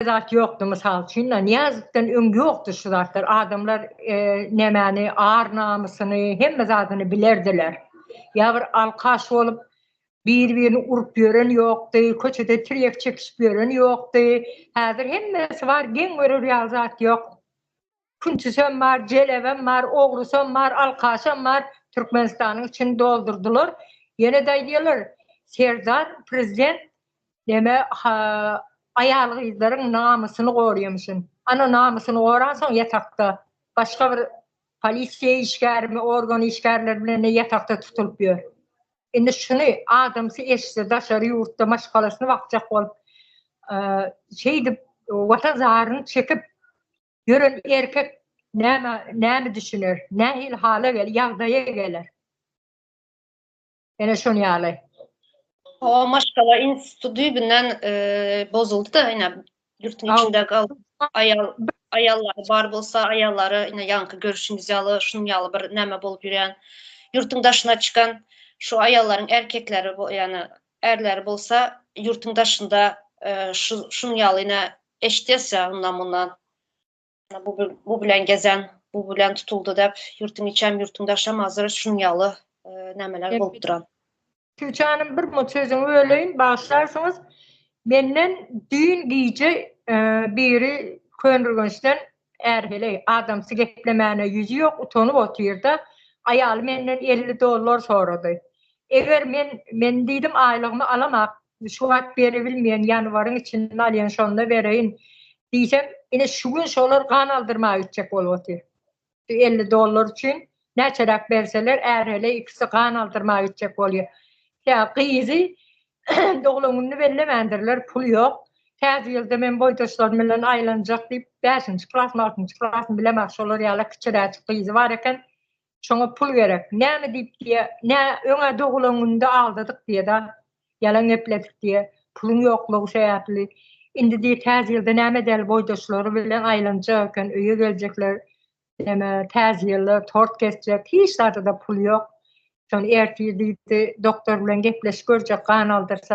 zat ýokdy mysal üçin-da Nyýazowdan öň ýokdy şu zatlar adamlar nämäni ar namysyny hemme zadyny bilerdiler ýa bir alkaş bolup bir birini urup ýören ýokdy köçede tirýek çekişip ýören ýokdy häzir hemmesi bar geň görer ýaly zat ýok. Küntisem bar, jelebem bar, ogrysam bar, alkaşam bar, Türkmenistanyň içini doldurdylar. Ýene-de aýdýarlar, Serdar prezident neme aýal-gyzlaryň namysyny goraýamyşyn. Ana namysyny goransoň ýatakda başga bir polisiýa işgärimi, organ işgärleri bilen ýatakda tutulyp ýör. Indi şuny adamsy eşitse daşary ýurtda maşgalasyny bakjak bolup şeýdip watan zaryny çekip Ýören erkek näme näme düşüner? Nähili hala gel ýagdaýa geler? Ene şon ýaly. O maşgala instituty düýbünden e, bozuldy da ýa ýurtun içinde galdy. Aýal aýallar bar bolsa aýallara ýa ýaňky görüşümiz ýaly şunuň ýaly bir näme bolup ýörýän. Ýurtun daşyna çykan şu aýallaryň erkekleri bu ýa Ärleri bolsa ýurtuň daşynda şunuň ýaly ine eşitýäs ýa yndan mundan bu bilen gezen bu bilen tutuldy dep ýurtuň içem ýurtuň daşam hazir şunuň ýaly nämeler bolup duran. Tüwçe hanym bir mut sözüňi böleýin bagyşlarsyňyz menden düýn gije biri Köneürgençden Är heleý, adamsy geplemäne ýüzi ýok, utanyp otyr-da, aýaly menden elli dollar sorady. Eger men, men diýdim, aýlygymy alamap, şu wagt beribilmeýän, ýanwaryň içinde alýan, şonda bereýin diýsem, ine, şu gün şolar gan aldyrmaga gitjek bolup otyr. Şu elli dollar üçin näçeräk berseler, är heleý ikisi gan aldyrmaga gitjek bolýar. Kä, gyzy Doglan gününi bellemändirler, pul ýok. Täze ýylda men boýdaşlarym bilen aýlanjak diýip, bäşinji klasmy, altynjy klasmy bilemok, şolar ýaly kiçiräjik gyzy bar eken. Şoňa pul gerek. Näme diýip diýýär, nä, öň-ä doglan gününde aldadyk diýýä-de, ýalan gepledik diýýä, puluň ýoklugy sebäpli. Indi diýýä, täze ýylda näme däl boýdaşlary bilen aýlanjak eken, öýe geljekler. Ene täze ýylda tort kesjek, hiç zada-da pul ýok. Şony ertir diýdi, doktor bilen gepleşip görjek, gan aldyrsa,